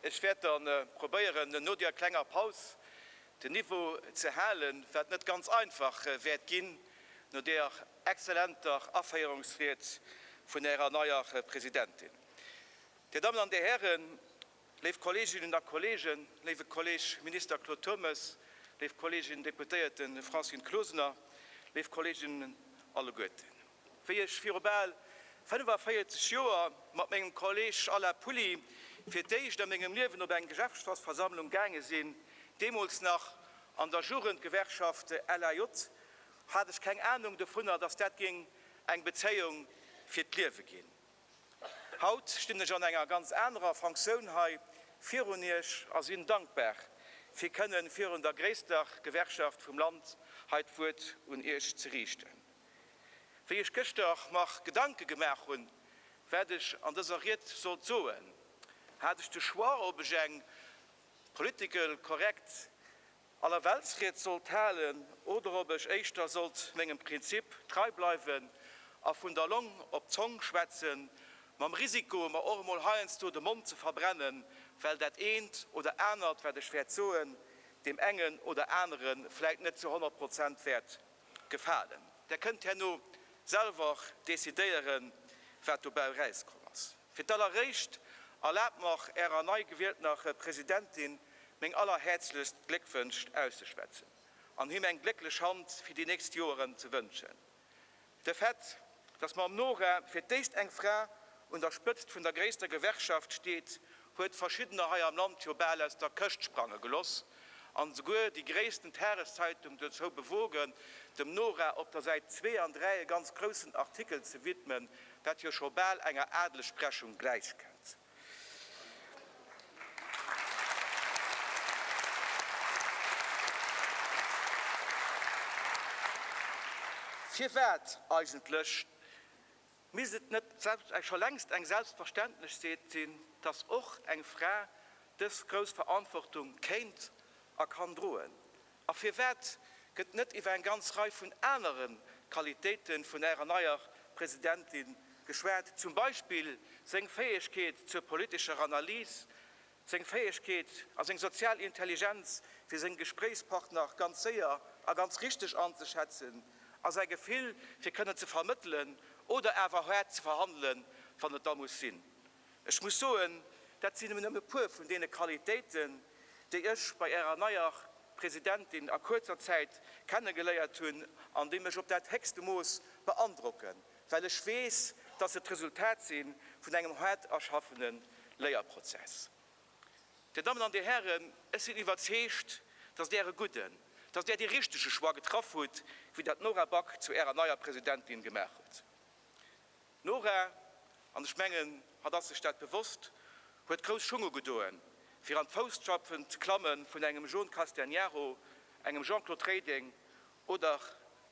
Ech wäert da probéieren, no deer klenger Paus den Niveau ze halen, wat net ganz einfach wäert ginn, no deer exzellenter Aféierungsried vun Ärer neier Presidentin. Dir Dammen an Dir Hären, Léif Kolleeginnen a Kolleegen, léiwe Kolleeg Minister Claude Turmes, léif Kolleegin Deputéierte Francine Closener, léif Kolleeginnen alleguerten, wéi ech viru bal 45 Joer mat mengem Kolleeg Alain Pulli fir d'éischt a mengem Liewen op eng Geschäftsfestversammlung gaange sinn, deemools nach an der Jugendgewerkschaft LAJ, hat ech keng Anung dovunner, dass dat géing eng Bezéiung fir d'Liewe ginn. Haut stinn ech an enger ganz anerer Fonctioun hei virun Iech a sinn dankbar, fir kënnen virun der gréisster Gewerkschaft vum Land hei d'Wuert un Iech ze riichten. Wéi ech gëschter mer Gedanke gemaach hunn, wat ech an dëser Ried sollt soen, hat ech de Choix, ob ech eng political correct Allerweltsrieds sollt halen oder ob ech éischter sollt mengem Prinzip trei bleiwen a vun der Long op d'Zong schwätzen, mam Risiko mer och emol heiansdo de Mond ze verbrennen, well dat eent oder anert wat ech wäert soen, deem engen oder anere vläit net zu 100 Prozent wäert gefalen. Der kënnt herno selwer decidéieren, wat dobäi erauskom ass. Fir d'alleréischt erlaabt mer, Ärer nei gewieltener Presidentin meng allerhäerzlechst Gléckwënsch auszeschwätzen an him eng glécklech Hand fir déi nächst Joeren ze wënschen. De Fait, dass mam Nora fir d'éischt eng Fra un der Spëtzt vun der gréisster Gewerkschaft steet, huet verschiddener hei am Land jo bal aus der Këscht sprange geloss. An esouguer déi gréissten Tageszeitung dozou bewogen, dem Nora op der Säit 2 an 3 e ganz groussen Artikel ze widmen, dat jo scho bal enger Adelsbrechung gläichkënnt. Firwat eigentlech Misst et net scho längst eng Selbstverständlechseet sinn, dass och eng Fra dës grouss Verantwortung kéint a kann droen? A firwat gëtt net iwwer eng ganz Rei vun anere Qualitéite vun Ärer neier Presidentin geschwat, zum Beispill seng Fäegkeet zur politescher Analys, Seng Fäegkeet a seng sozial Intelligenz, fir seng Gespréichspartner ganz séier a ganz richteg anzeschätzen, a säi Gefill, fir kënnen ze vermëttelen oder awer haart ze verhandelen, wann et da muss sinn. Ech muss soen, dat sinn nëmmen e puer vun deene Qualitéiten, déi ech bei Ärer neier Presidentin a kuerzer Zäit kenne geléiert hunn an déi mech op dat héchste Mooss beandrocken. Well ech weess, dass se d'Resultat si vun engem haart erschaffene Léierprozess. Dir Dammen an Dir Hären, ech sinn iwwerzeegt, dass Där e gudden, dass Där dee richtege Choix getraff hutt, wéi dat d'Nora Back zu Ärer neier Presidentin gemaach huet. D'Nora, an ech mengen, hatt ass sech dat bewosst, huet grouss Schung ugedoe fir an d'Fousstapfen ze klamme vun engem John Castegnaro, engem Jean-Claude Reding Oder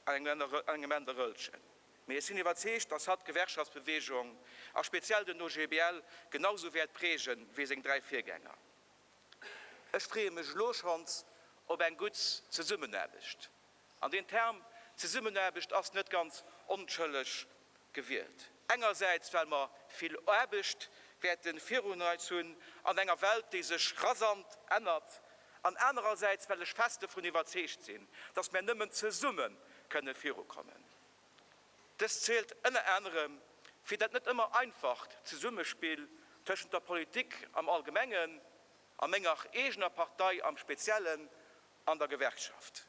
an engem Enn der Rëllchen. Mee ech sinn iwwerzeegt, datt hatt d'Gewerkschaftsbewegung, a speziell den OGBL, genau sou wäert präge wéi seng dräi Virgänger. Ech freeë mech elo schonns op eng gutt Zesummenaarbecht. An deen Term Zesummenaarbecht ass net ganz onschëlleg gewielt. Engersäits well mer vill Aarbecht wäerte virun eis hunn an enger Welt, déi sech rasant ännert, an anerersäits well ech fest dovun iwwerzeegt sinn, datt mir nëmmen zesumme kënne virukommen. Dëst zielt ënner anerem fir dat net ëmmer einfacht Zesummespill tëschent der Politik am Allgemengen a menger eegener Partei am Speziellen an der Gewerkschaft.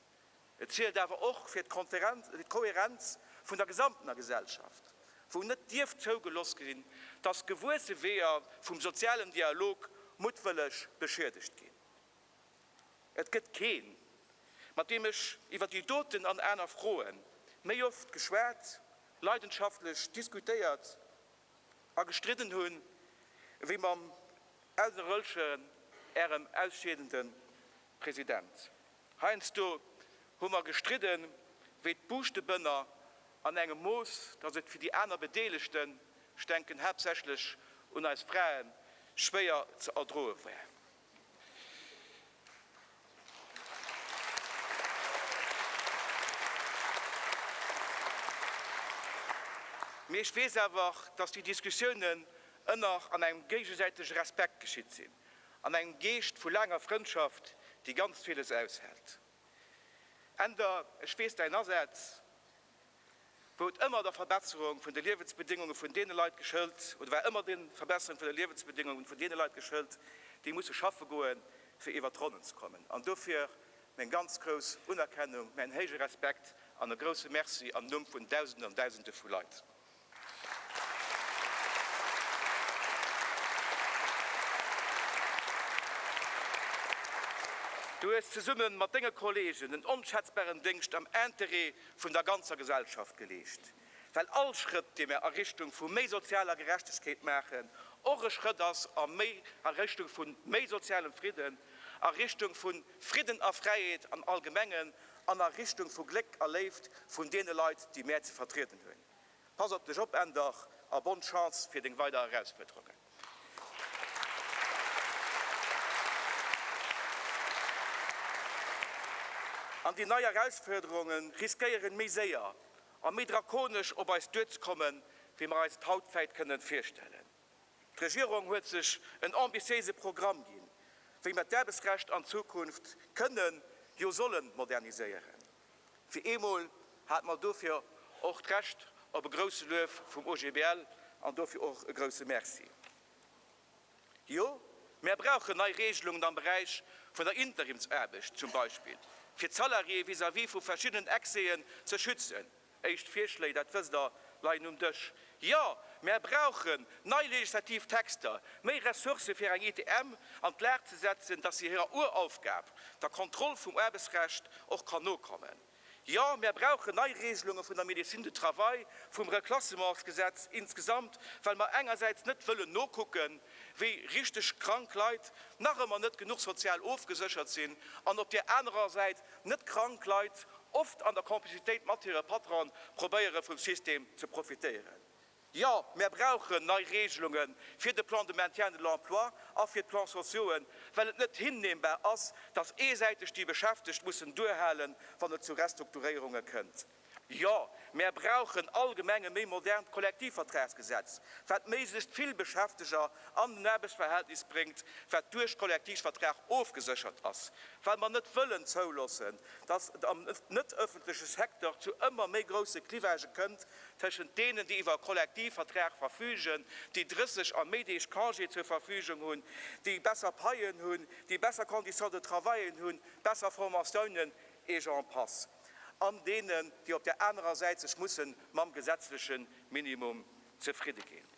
Et zielt awer och fir d'Kohärenz vun der gesamtener Gesellschaft, wou net dierf zougeloss ginn, dass gewuesse Weeër vum sozialen Dialog muttwëlleg beschiedegt ginn. Et gëtt keen, mat deem ech iwwer déi doten an aner Froe méi oft geschwat, leidenschaftlech diskutéiert a gestridden hunn, wéi mam Else Rölschen, Ärem ausschiedenden President. Heiansdo hu mer gestridden wéi d'Buuschtebener, an engem Mooss, datt et fir déi aner Bedeelegten, ech denken haaptsächlech un eis Fraen, schwéier ze erdroe war. Mee ech weess awer, datt déi Diskussiounen ënner an engem géigesäitege Respekt geschitt sinn. an engem Geescht vu laanger Frëndschaft, déi ganz villes aushält. Änder, ech weess, däin Asaz, wou et ëmmer der Verbesserung vun de Liewensbedéngunge vun deene Leit geschëlt, oder war ëmmer den Verbesserung vun de Liewensbedéngunge vun deene Leit geschëlt, déi musse schaffe goen, fir iwwert d'Ronnen ze kommen. An dofir meng ganz grouss Unerkennung, mäin héije Respekt an e grousse Merci am Numm vun Dausenden an Dausende vu Leit. Du hues zesumme mat denge Kolleegen en onschätzbaren Déngscht am Interêt vun der ganzer Gesellschaft geleescht, well all Schrëtt, dee mer a Richtung vu méi sozialer Gerechtegkeet maachen, och e Schrëtt ass a méi a Richtung vu méi sozialem Fridden, a Richtung vu Fridden a Fräiheet am Allgemengen an a Richtung vu Gléck a Léift vun deene Leit, déi mär ze vertrieden hunn. Pass op dech op en Dach a bonne Chance fir deng weider Erausfuerderungen. An déi nei Erausfuerderunge riskéieren méi séier a méi drakonesch op eis duerzekommen, wéi mer eis et haut vläit kënnen virstellen. D'Regierung huet sech en ambitiéise Programm ginn, wéi mer d'Aarbechtsrecht an Zukunft kënnen, jo sollen, moderniséieren. Fir eemol hate mer dofir och d'Recht op e grousse Luef vum OGBL an dofir och e grousse Merci. Jo, mär brauchen nei Regelungen am Beräich vun der Interimsaarbecht zum Beispill, fir d'Salariéë vis-à-vis vu verschiddenen Excèsen ze schützen, Éischt Virschléi, dat wësst Der, leien um Dësch. Jo, mär brauchen nei legislativ Texter, méi Ressourcë fir eng ITM an d'Lag ze setzen, dass se hirer Uraufgab, der Kontroll vum Aarbechtsrecht, och kann nokommen. Jo, mär brauchen nei Regelunge vun der Médecine du Travail, vum Reklassementsgesetz insgesamt, well mer engersäits net wëllen nokucken, wéi richteg krank Leit nach ëmmer net genuch sozial ofgeséchert sinn, an op där anerer Säit Net krank Leit, oft an der Complicitéit matt hire Patronen, probéiere vum System ze profitéieren. Jo, mär brauchen nei Regelungen fir de Plan de maintien de l'emploi a fir d'Plans sociauxen, well et net hinnehmbar ass, dass eesäiteg déi Beschäftegt mussen duerhalen, wann et zu Restrukturéierunge kënnt. Jo, mär brauchen allgemeng e méi modernt Kollektivvertragsgesetz, wat méi sech d'Villbeschäfteger an den Aarbechtsverhältnis bréngt, wat duerch Kollektivvertrag ofgeséchert ass, well mer net wëllen zouloossen, datt et am netëffentleche Secteur zu ëmmer méi grousse Clivagë kënnt tëschent deenen, déi iwwer e Kollektivvertrag verfügen, déi 30 a méi Deeg Congé zur Verfügung hunn, déi besser Paien hunn, déi besser Conditions de travailen hunn, besser Formatiounen, et j'en passe. an deenen, déi op där anerer Säit sech musse mam gesetzleche Minimum zefridde ginn.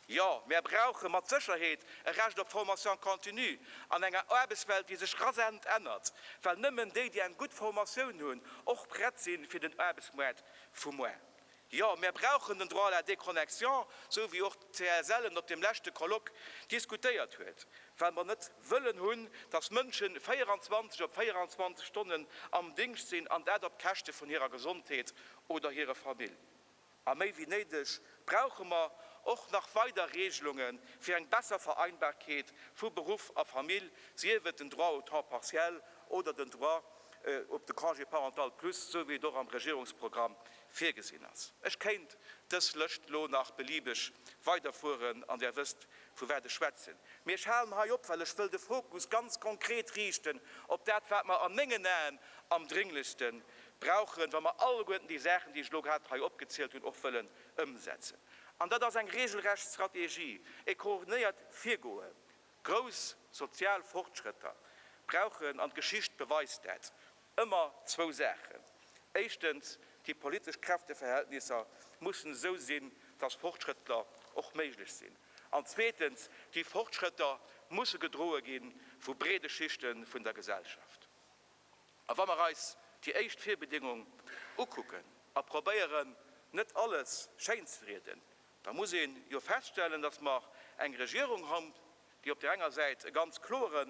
Jo, mär brauche mat Sécherheet e Recht op Formation continue an enger Aarbechtswelt, déi sech rasent ännert, well nëmmen déi, déi eng gutt Formatioun hunn, och prett si fir den Aarbechtsmoart vu muer. Jo, mär brauchen den Droit à la déconnexion, sou wéi och d'CSL en op deem leschte Colloque diskutéiert huet, well mer net wëllen hunn, dass Mënschen 24 op 24 Stonnen am Dingscht sinn, an dat op d'Käschte vun hirer Gesondheet oder hire Famill. A méi wéi néideg brauche mer och nach weider Regelunge fir eng besser Vereinbarkeet vu Beruff a Famill, sief et den Droit au temps partiel oder den Droit op de Congé parental plus, sou wéi et och am Regierungsprogramm Virgesinn ass. Ech kéint dës Lëscht lo nach beliebeg weiderfueren an Der wësst, vu wat ech schwätzen. Mee ech halen hei op, well ech wëll de Fokus ganz konkret riichten op dat, wat mer a mengen Aen am dringlechste brauchen, wa mer alleguerten déi Saachen, déi ech elo grad hei opgezielt hunn, och wëllen ëmsetzen. An dat ass eng regelrecht Strategie, e koordinéiert Virgoe. Grouss sozial Fortschrëtter brauchen, an d'Geschicht beweist dat, Ëmmer zwou Saachen, éischtens, déi politesch Kräfteverhältnisser mussen esou sinn, datt Fortschrëttler och méiglech sinn, an zweetens, déi Fortschrëtter musse gedroe gi vu breede Schichte vun der Gesellschaft. A wa mer eis déi éischt Virbedingung ukucken a probéieren, net alles schéinzerieden, da muss ee jo feststellen, datt mer eng Regierung hunn, déi op där enger Säit e ganz kloere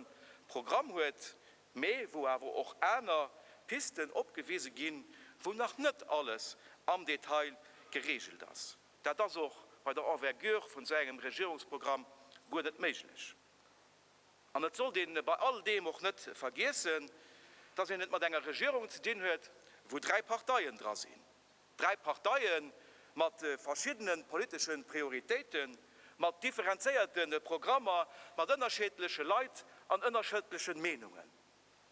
Programm huet, mee wou awer och aner Pisten opgewise ginn, wou nach net alles am Detail gereegelt ass. Dat ass och bei der Envergure vun esou engem Regierungsprogramm guer net méiglech. An et sollt ee bei all deem och net vergiessen, dass een et mat enger Regierung ze dinn huet, wou dräi Parteien dra sinn. Dräi Parteie mat verschiddene politesche Prioritéiten, mat differenzéierte Programmer, mat ënnerscheedleche Leit an ënnerschëdlechen Meenungen.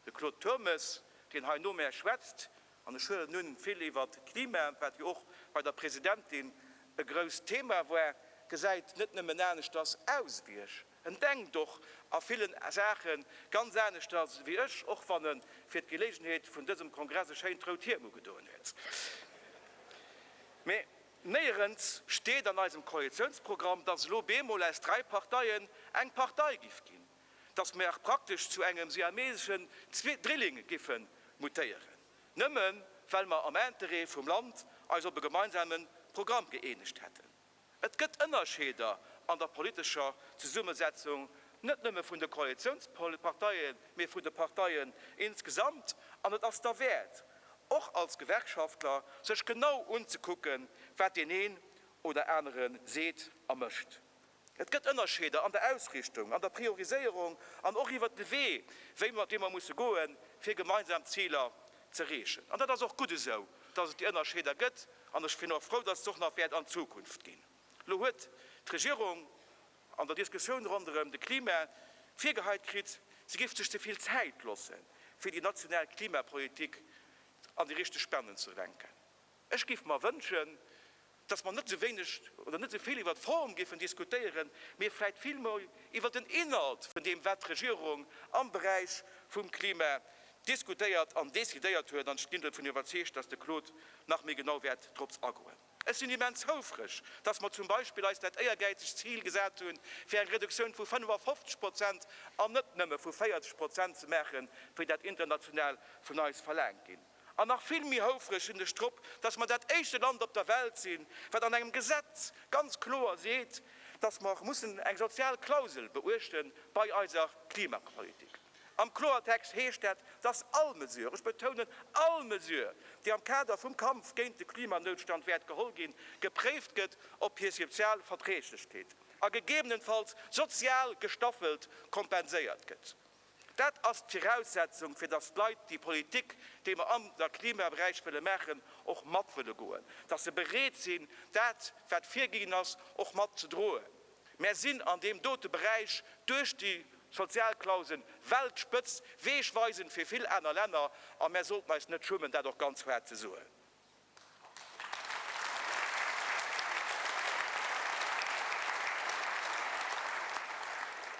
De Claude Turmes, deen hei no mär schwätzt, an ech huelen un, vill iwwert d'Klima, wat jo och bei der Presidentin e grousst Thema war, gesäit net nëmmen aneschters aus wéi ech. En denkt och a villen Saache ganz aneschters ewéi ech, och wann en fir d'Geléigenheet vun dësem Kongress e schéint rout Hiem ugedoen huet. Mee néierens steet an eisem Koalitiounsprogramm, dass elo beemol aus dräi Parteien eng Partei giff ginn, dass mer praktesch zu engem siameseschen Drilling giffe mutéieren, nëmme well mer am Intérêt vum Land eis op e gemeinsame Programm gëeenegt hätten. Et gëtt Ënnerscheeder an der politescher Zesummesetzung, net nëmme vun de Koalitiounsparteien, mee vun de Parteien insgesamt. An et ass derwäert, och als Gewerkschaftler, sech genau unzekucken, wat deen een oder anere seet a mécht. Et gëtt Ënnerscheeder an der Ausrichtung, an der Prioriséierung an och iwwert de Wee, wéi mer musse goen, fir gemeinsam Ziler z'erreechen. An dat ass och gutt esou, dass et déi Ënnerscheeder gëtt, an ech sinn och frou, dass et se och nach wäert an Zukunft ginn. Elo huet d'Regierung an der Diskussioun ronderëm de Klima virgeheit kritt, si géif sech ze vill Zäit loossen, fir déi national Klimapolitik an déi richteg Banen ze lenken. Ech géif mer wënschen, dass mer net esou wéineg oder net esou vill iwwert d'Form géifen diskutéieren, mee vläit vill méi iwwert den Inhalt vun deem, wat d'Regierung am Beräich vum Klima diskutéiert an decidéiert huet. An ech sinn dovun iwwerzeegt, dass de Claude nach méi genau wäert drop agoen. Ech sinn immens houfreg, dass mer zum Beispill eis dat éiergäizegt Zil gesat hu fir eng Reduktioun vu 55 Prozent an net nëmme vu 40 Prozent ze maachen, wéi dat international vun eis verlaangt ginn. An nach vill méi houfreg sinn ech drop, dass mer dat éischte Land op der Welt sinn, wat an engem Gesetz ganz kloer seet, dass mer mussen eng sozial Klausel beuechten bei eiser Klimapolitik. Am Kloertext heescht dat, dass all Mesure, ech betounen all Mesure, déi am Kader vum Kampf géint de Klimanoutstand wäert geholl ginn, gepréift gëtt op hir sozial Verträglechkeet a gegebenenfalls sozial gestaffelt kompenséiert gëtt. Dat ass d'Viraussetzung, fir datt d'Leit déi Politik, déi mer am der Klimaberäich wëlle maachen, och mat wëlle goen, datt se bereet sinn, dat, wat virginn ass, och mat ze droen. Mär sinn an deem dote Beräich duerch déi Sozialklausel Weltspëtzt, wegweisend fir vill aner Länner, a mär sollten eis net schummen, dat och ganz kloer ze soen.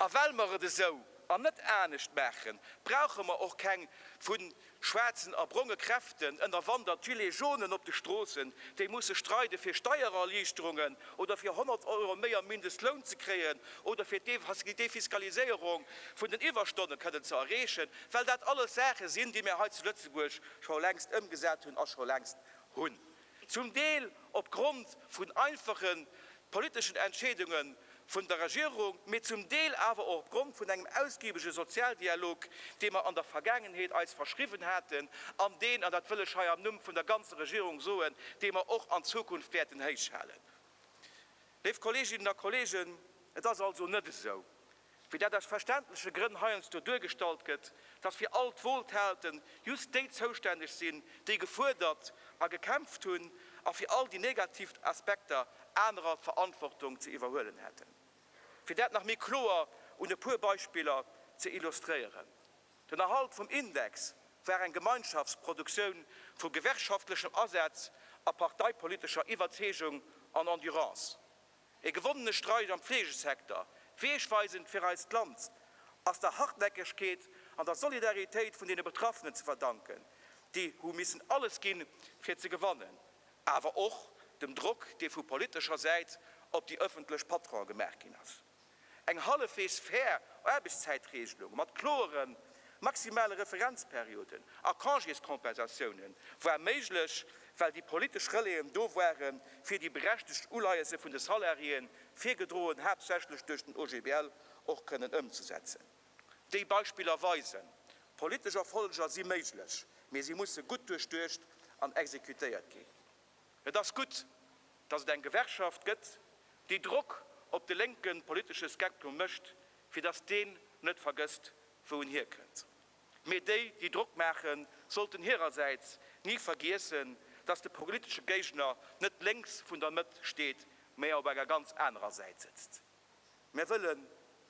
A well mer et esou an net anescht maachen, brauche mer och keng vu schwaarzen a bronge Kräften ënnerwandert gilets jaunen op de Stroossen, déi musse streide fir Steiererliichterungen oder fir 100 Euro méi am Mindestloun ze kréien oder fir d'Defiskaliséierung vun den Iwwerstonne kënnen ze erreechen, well dat alles Saache sinn, déi mir hei zu Lëtzebuerg scho längst ëmgesat hunn a scho längst hunn, zum Deel op Grond vun einfache politeschen Entscheedunge vun der Regierung, mee zum Deel awer och op Grond vun engem ausgibege Sozialdialog, dee mer an der Vergaangenheet eis verschriwwen haten an deen, an dat wëll ech hei am Numm vun der ganzer Regierung soen, dee mer och an Zukunft wäerten héichhalen. Léif Kolleeginnen a Kolleegen, et ass also net esou, Wéi dat aus verständleche Grënn heiansdo duergestallt gëtt, dass fir all d'Wohltaten just déi zoustänneg sinn, déi gefuerdert a gekämpft hunn, a fir all déi negativ Aspekter anerer d'Verantwortung ze iwwerhuelen hätten. Fir dat nach méi kloer un e puer Beispiller ze illustréieren, Den Erhalt vum Index war eng Gemeinschaftsproduktioun vu gewerkschaftlechem Asaz a parteipolitescher Iwwerzeegung an Endurance. E gewonnene Streich am Fleegesecteur, wegweisend fir eist Land, ass der Hartnäckegkeet an der Solidaritéit vun deene Betraffenen ze verdanken, déi hu missen alles ginn, fir ze gewannen, awer och dem Drock, dee vu politescher Säit op déi ëffentlech Patronen gemaach ginn ass. Eng hallefwegs fair Aarbechtszäitreegelung mat kloere maximale Referenzperioden a Congéskompensatiounen war méiglech, well déi politesch Relaisen do waren, fir déi berechtegt Uleiese vun de Salariéen, virgedroen haaptsächlech duerch den OGBL, och kënnen ëmzesetzen. Déi Beispiller weisen, Politesch Erfolleger si méiglech, mee si musse gutt duerchduecht an exekutéiert ginn. Et ass gutt, datt et eng Gewerkschaft gëtt, déi Drock op de lénke politesche Skektum mécht, fir datt deen net vergësst, wou en hierkënnt. Mee déi, déi Drock maachen, sollten hirersäits ni vergiessen, datt de politesche Géigner net lénks vun der Mëtt steet, mee op enger ganz anerer Säit sëtzt. Mär wëllen,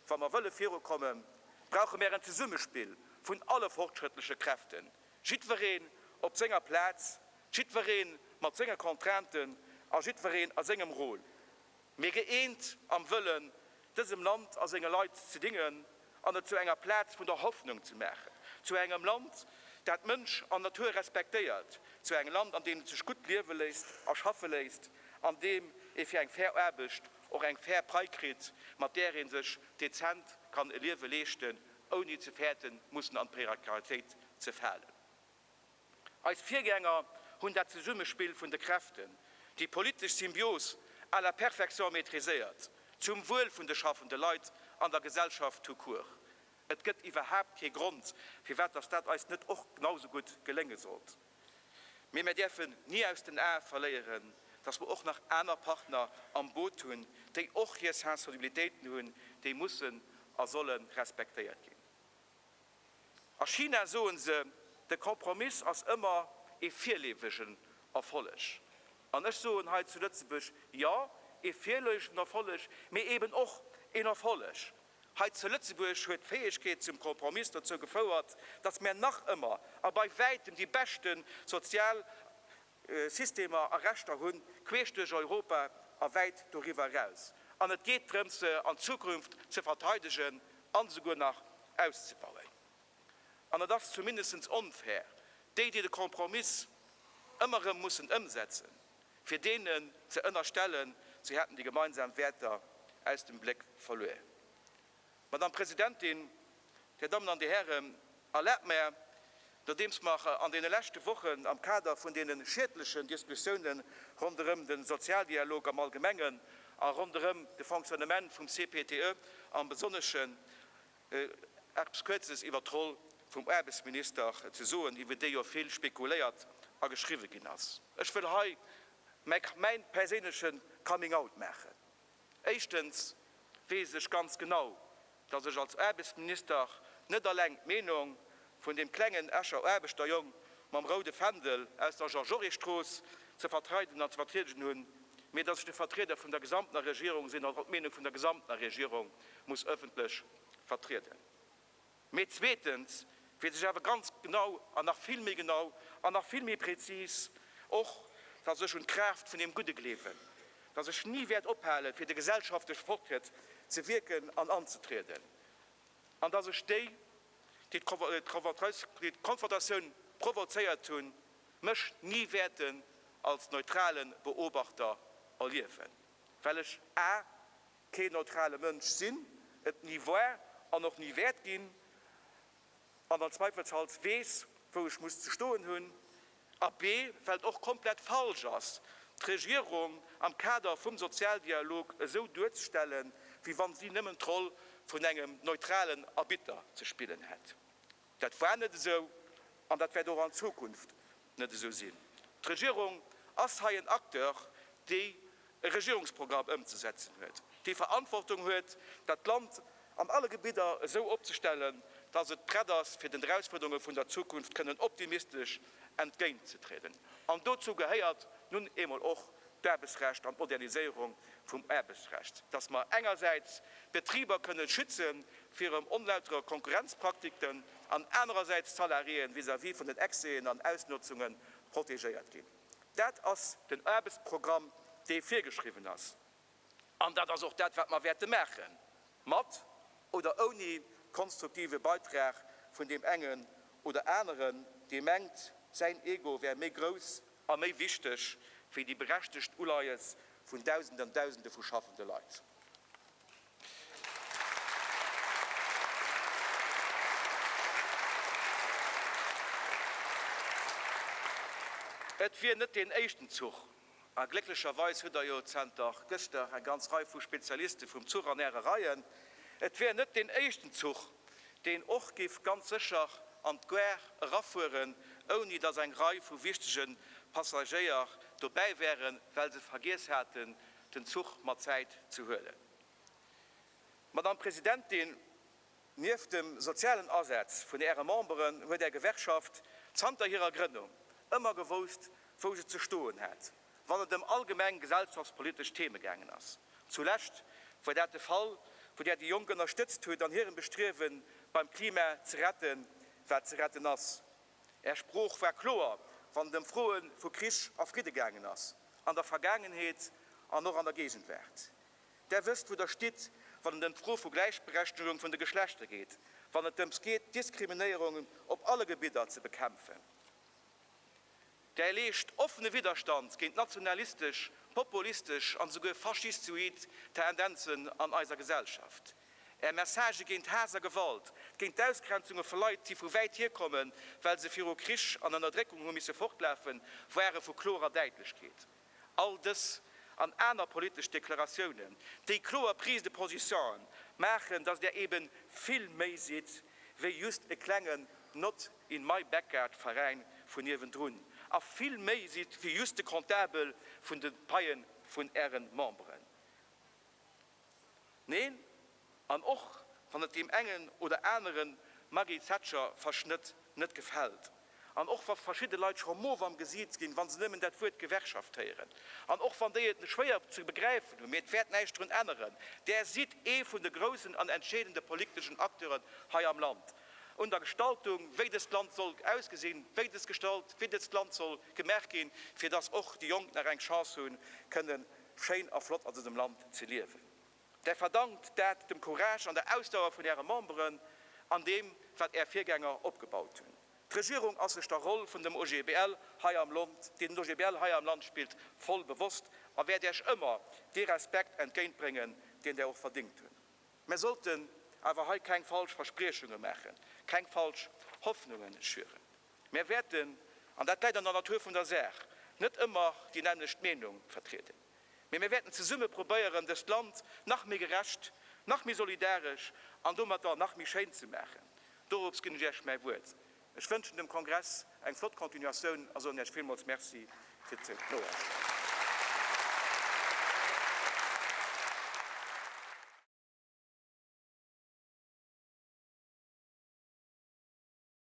wa mer wëlle virukommen, brauche mär en Zesummespill vun alle fortschrëttleche Kräften, jiddwereen op senger Plaz, jiddwereen mat senge Contrainten a jiddwereen a sengem Rôle, mee gëeent am Wëllen, dësem Land a senge Leit ze dingen an et zu enger Plaz vun der Hoffnung ze maachen, zu engem Land, dat Mënsch an Natur respektéiert, zu engem Land, an deem et sech gutt liewe léisst a schaffe léisst, an deem ee fir eng fair Aarbecht Och eng fair Pai kritt, mat där ee sech dezent kann e Liewe leeschten, ouni ze fäerten, mussen an d'Prekaritéit ze falen. Eis Virgänger hunn dat Zesummespill vun de Kräften, déi politesch Symbios à la perfection maitriséiert, zum Wuel vun de schaffende Leit an der Gesellschaft tout court. Et gëtt iwwerhaapt kee Grond, firwat dass dat eis net och genau sou gutt gelénge sollt. Mee mär däerfen ni aus den Ae verléieren, dass mer och nach aner Partner am Boot hunn, déi och hir Sensolibilitéiten hunn, déi mussen a solle respektéiert ginn. A China soe se, de Kompromiss ass ëmmer ee virleefegen Erfolleg. An ech soen hei zu Lëtzebuerg, jo, ee virleefegen Erfolleg, mee eeben och een Erfolleg, Hei zu Lëtzebuerg huet d'Fäegkeet zum Kompromiss dozou gefouert, datt mir nach ëmmer a bei wäitem déi beschte sozial Systemer a Rechter hunn, queesch duerch Europa a wäit doriwwer eraus. An et geet drëm, se an Zukunft ze verteidegen a souguer nach auszebauen. An et ass zumindest onfair, déi, déi de Kompromiss ëmmer erëm mussen ëmsetzen, fir deenen ze ënnerstellen, se hätten déi gemeinsam Wäerter aus dem Bléck verluer. Madame Presidentin, Dir Dammen an Dir Hären, erlaabt mer, nodeems mer an deene leschte Wochen am Kader vun deene schiedlechen Diskussiounen ronderëm de Sozialdialog am Allgemengen a ronderëm de Fonctionnement vum CPTE am Besonneschen, Eppes Kuerzes iwwert d'Roll vum Aarbechtsminister ze soen, iwwert déi jo vill spekuléiert a geschriwwe ginn ass. Ech wëll hei mäin perséinleche Coming Out maachen. Éischtens weess ech ganz genau, datt ech als Aarbechtsminister net alleng d'Meenung vun deem klengen Escher Aarbechterjong mam roude Fändel aus der Jean-Jaurès-Strooss ze vertreiden an ze vertriedegen hunn, mee datt ech de Vertrieder vun der gesamtener Regierung sinn, also och d'Meenung vun der gesamtener Regierung muss ëffentlech vertrieden, mee zweetens fir sech awer ganz genau an nach vill méi genau an nach vill méi präzis och, datt ech un d'Kraaft vun deem Gudde gleewen, datt ech ni wäert ophale fir de gesellschaftleche Fortschrëtt ze wierken an anzetrieden an datt ech déi, déi d'Konfrontatioun provozéiert hunn, mech ni wäerten als neutrale Beobachter erliewen, well ech a. Kee neutrale Mënsch sinn, et ni war an och ni wäert ginn, an dann zweifelshalls weess, wou ech muss ze stoen hunn. A B, well et och komplett falsch ass, d'Regierung am Kader vum Sozialdialog esou duerzestellen, wéi wann si nëmmen d'Roll vun engem neutralen Arbitter ze spillen hätt. Dat war net esou an dat wäert och an Zukunft net esou sinn. D'Regierung ass hei en Acteur, déi e Regierungsprogramm ëmzesetzen huet, déi Verantwortung huet, dat Land an alle Gebidder esou opzestellen, dass et prett ass, fir den Erausfuerderunge vun der Zukunft kënnen optimistesch entgéintzetrieden. An dozou gehéiert nun eemol och d'Aarbechtsrecht an d'Moderniséierung vum Aarbechtsrecht, dass mer engersäits d'Betriber kënnen schütze virum onlautere Konkurrenzpraktiken an anerersäits d'Salariéen vis-à-vis vun den Excéen an Ausnotzunge protegéiert ginn. Dat ass den Aarbechtsprogramm, dee virgeschriwwen ass, an dat ass och dat, wat mer wäerte maachen. Mat oder ouni konstruktive Beitrag vun deem engen oder aneren, dee mengt, säin Ego wär méi grouss a méi wichteg wéi déi berechtegt Uleies vun Dausende an Dausende vu schaffende Leit. Et wier net deen éischten Zuch. A glécklecherweis hutt Der jo zanter gëschter eng ganz Rei vu Spezialiste vum Zuch an Äre Reien. Et wär net deen éischten Zuch, deen och géif ganz sécher an d'Gare erafueren, ouni datt eng Rei vu wichtege Passagéier dobäi wären, well se vergiess haten, den Zuch mat Zäit ze huelen. Madame Presidentin, Nieft dem sozialen Asaz vun Äre Memberen huet Är Gewerkschaft zanter hirer Grënnung ëmmer gewousst, wou se ze stoen hat, wann et ëm allgemeng gesellschaftspolitesch Theme gaangen ass. Zulescht war dat de Fall, wou Där déi Jonk ënnerstëtzt hutt an hirem Bestriewen, beim Klima ze rette wat ze retten ass. Är Sprooch war kloer, wann et ëm Froe vu Krich a Fridde gaangen ass, an der Vergaangenheet an och an der Géigenwaart. Där wësst, wou Der stitt, wann et ëm d'Fro vu Gläichberechtegung vun de Geschlechter geet, wann et dëms geet, d'Diskriminéierung op alle Gebidder ze bekämpfen. Där leescht offene Widderstand géint nationalistesch, populistesch an esouguer faschistoid Tendenzen an eiser Gesellschaft. Är Messagë géint Haass a Gewalt, géint d'Ausgrenzunge vu Leit, déi vu wäit hier kommen, well se viru Krich an Ënnerdréckung hu misse fortlafen, ware vu klorer Däitlechkeet. All dës an aner politesch Deklaratiounen, déi kloer Prise de positionen, maachen, datt Där eben vill méi sidd wéi just e klengen Not in my backyard Veräin vun niewendrun a vill méi sidd wéi just de Comptabel vun de Paien vun Ären Memberen. Neen, an och wann et deem engen oder anere Margaret Thatcher Verschnëtt net gefällt, an och wa verschidde Leit scho mof am Gesiits ginn, wa se nëmmen dat Wuert Gewerkschaft héieren, an och wann déi et schwéier ze begräifen hunn, mee et wäert näischt drun änneren, Där sidd ee vun de groussen an entscheedende politeschen Acteuren hei am Land un der Gestaltung, wéi dëst Land soll ausgesinn, wéi dëst Land soll gemaach ginn, fir dass och déi Jonk nach eng Chance hu kënnen, schéin a flott an dësem Land ze liewen. Där verdankt dat dem Courage an der Ausdauer vun Äre Memberen an deem, wat Är Virgänger opgebaut hunn. D'Regierung ass sech der Roll vun dem OGBL hei am Lond, déi den OGBL hei am Land spillt, voll bewosst a wäert Äerch ëmmer dee Respekt entgéintbréngen, deen Där och verdéngt hunn. Mär sollten awer hei keng falsch Verspriechunge maachen, keng falsch Hoffnungen schüren. Mär wäerten, an dat läit an der Natur vun der Saach, net ëmmer déi nämmlecht Meenung vertrieden, mee mär wäerten zesumme probéieren, dëst Land nach méi gerecht, nach méi solidaresch an domatter nach méi schéin ze maachen. Dorops ginn ech Iech mäi Wuert. Ech wënschen dem Kongress eng flott Continuatioun a soen Iech villmools Merci fir d'Noulauschteren.